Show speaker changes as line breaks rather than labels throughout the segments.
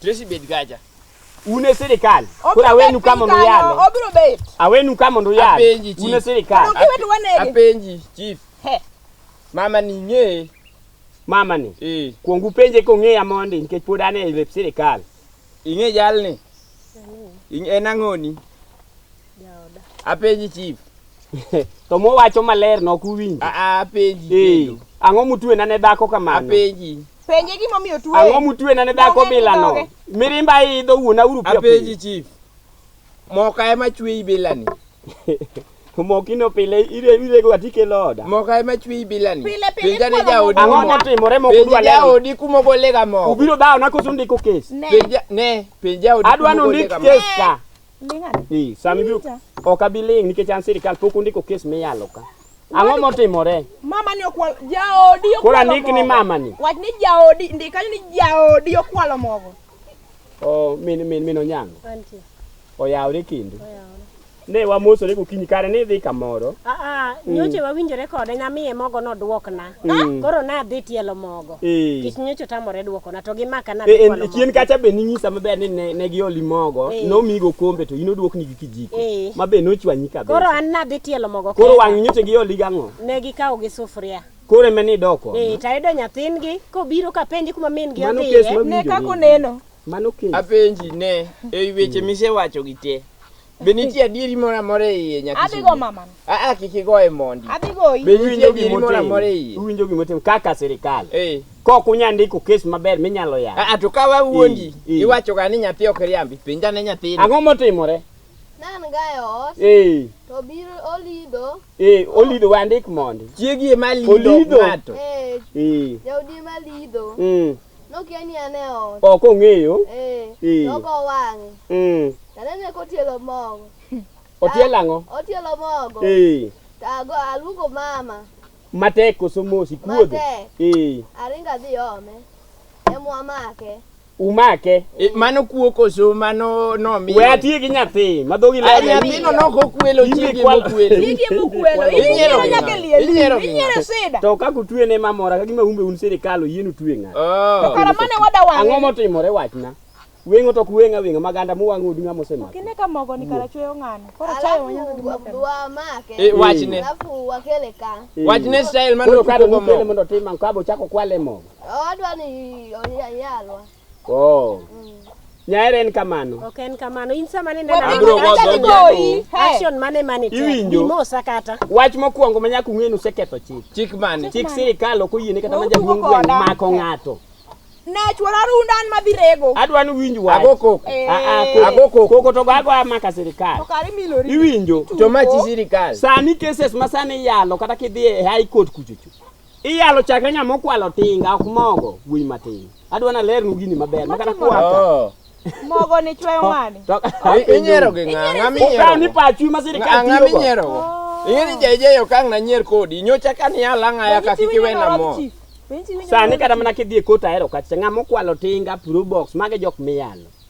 Tracy bed gaja. Un e
sirikal. Koro awenu ka mondo uyale. Obiro bet. Awenu
ka mondo uyale.
Apenji chief. Un e sirikal.
Mondo kiwet
wanege. Apenji
chief. He. Mama ni
ng'e. Mama ni.
Eh. Kuongu penje kong'eya mondi nikech pod an e lep sirikal. Ing'e
jalni? En ang'oni?
Jaoda. Apenji chief.
to
mowacho maler no kuwinjo. A a apenji. Eh,
ang'o mutwe na
ne dhako kamano? Apenji. Penje
gima omiyo
tuwe. Ang'o mutwe na ne dhako
bila no? Mirimba idho wuona uru pia. Apenji chief.
Moka ema chwe ibila ni.
mokino pile ire ire go atike loda moka ema chwi
bilani pile pile pinja ne jaodi
ang'o
motimore moko
dwa leo jaodi kumo go
lega moko ubiro dawo na koso ndiko
kes pinja ne pinja
odi adwa no ndik kes
ka Ee,
sama ibiro Winja.
ok abi ling' nikech an sirkal pok ondiko kes miyalo ka. Ang'o motimore? Mama ni okwal
jaodi okwalo. Koro andik ni mogo. mama ni.
Wach ni jaodi
ndik kanyo ni jaodi okwalo mogo. Oh,
min min min onyango. Antie.
Oyawre kendo.
Oyawre. Ne wamosore gokinyi kare ni idhi kamoro. Ah ah, nyoche
wawinjore kode namiye mogo nodwokna. Mm. Koro nadhi tielo mogo. Eh. Kich nyocho tamore dwoko na to gi maka na. Eh, eh, chien kacha be
ninyisa maber ni ne, ne gioli mogo, eh. nomigo kombe to ino dwok ni gi kijiko. Eh. Ma be nochwanyi kabisa. Koro an nadhi tielo
mogo. Koro wang' nyoche gioli
gang'o? Ne gikawo gi sufuria.
Kore me ni doko.
Eh, tayudo nyathin
gi kobiro ka penji kuma min gi odhiye. Ne kako
neno. Mano kiny. Apenji
ne,
e weche misewacho gi te. Be nitie adieri moro amora e iye nyaka Adhi go mama. Ah ah
kik igoye
mondi. Adhi goyi. Be nitie
adieri moro amora
e iye? Uwinjo gima otimo kaka
sirkal. Eh. Kok unya ndiko kes maber minyalo yawo. Ah ah to ka wawuondi
Eh, eh. iwacho ga ni nyathi ok riambi. Penja ne nyathini. Ang'o motimore?
Nan gayo
ot Eh, to biro olido. eh, olido
wandik mondi. Chiegi ema lido
Olido. ng'ato. Eh, Eh, jaudi
ema lido. mm. Nokia ni an e ot. Ok ong'eyo.
Eh. eh. Nogo
wang'e. Mm. Tanene kotielo mogo. Otielo
ang'o? Otielo mogo.
Eh. Tago aluongo mama. Matek koso
mos ikuodho? Matek. Eh. Aringa
dhi ome. Emwa make. Umake.
Eh, mano kuo
koso mano nomiyo we atie gi nyathi
ma dhogi Ay, nyathino nok okwelo
chiege mokwelo Chiege mokwelo. Inyiero
Inyiero nyaka ng'a? liel. Inyiero ng'a? Inyiero sida. to ka kutwe ne mamora
ka gima umbe un sirikal oyien utwe ng'a Oh. Kara mane
wada wang'e. ang'o motimore wachna
weng'o to ok weng' aweng'a maganda muwang'o odu ng'a mosemako Kine ka mogo ni kara
chweyo ng'ano. Koro chayo wanya Alafu wa- wamake
Eh, wachne. alafu
wakele
ka Wachne style mano
koro kado tugo mo. mukele mondo otim
ang'o kabo chako kwale mogo odwa ni
oyalwa Oh.
Nyaere en kamano. Ok en kamano. In sama
nende na bro go go.
Action mane
mane. Iwinjo. Mosa
kata.
Wach mokwongo manya
kung'e ni useketho chik. Chik mane? Chik
sirikal ok oyiene
kata manja duong' gweng' mako ng'ato. Ne chwora
runda an madhi rego. Adwa ni winj wach. Ago
koko. Eh. Ah, ah, Ago
koko. Koko to gago
amaka sirikal. To kare milori. Iwinjo.
To machi
sirikal.
Sani cases
masani yalo kata kidhi e high court kuchuchu. Iyalo chakre ng'ama okwalo tinga ok mogo wuoyi matin. Adwa na lernu gini maber makata kwaka. Oh. Mogo ni
chweyo ng'ani. To- Inyiero gi
ng'a? Ng'a minyiero Ukaw ni go? pachu ma sirikal
Ng'a- ng'a tiyogo. minyiero go?
Ing'e ni jaijeyo ka ang' nanyier kodi. Nyocha ka ni alang'a ya ka kik iwena mo. Sani
kata mana kidhi e kota ahero kacha ng'ama okwalo tinga probox mage jok miyalo.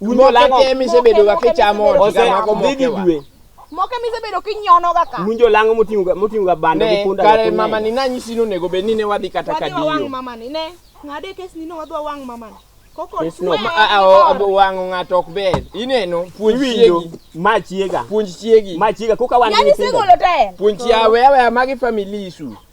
Un jokete
misebedoga kichamo dhi gi
dwe moke misebedo
kinyonoga ka munjo lango moting'oga
moting'oga bando gi punda kare mama ni
nanyisi ni onego bed ni ne wadhi kata ka diyo wang mama ni
ne ng'ade kes ni ne wadwa wang mama ni
wang'o ng'ato ok ber ineno puonj chiegi ma chiega
puonj chiegi ma
chiega koka wan
puonj chiawe aweya
magi family issue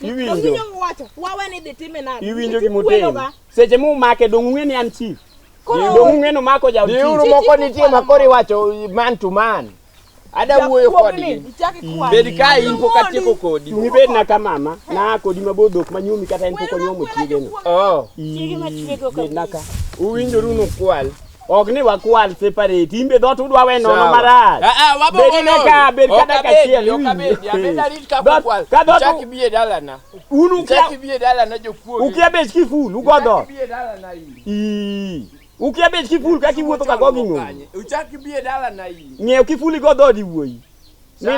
Iwinjo.
Iwinjo gima utimo.
Seche mu make dong ung'e ni an chief. Dong ung'e no mako ja chief. Diuru moko nitie ma kori
wacho man to man. Ada wuoyo kodi. Bed ka in pok atieko kodi. Ni bed na ka mama
na kodi ma bodok ma nyumi kata en pok onyuomo chiege no. Oh. Chiege ma chiege
ok. Bed na ka. Uwinjoru
no
kwal. ok ni wakwal
separate imbe dho to udwa we nono marach ah, ah, bedine ka
bed ka daka chiel un ukia bet ki ful
ugo dho
ukia bet ki
ful kaka iwuotho ka go gi ng'oyo
ng'eyo
ki ful igo
dhood
iwuoyi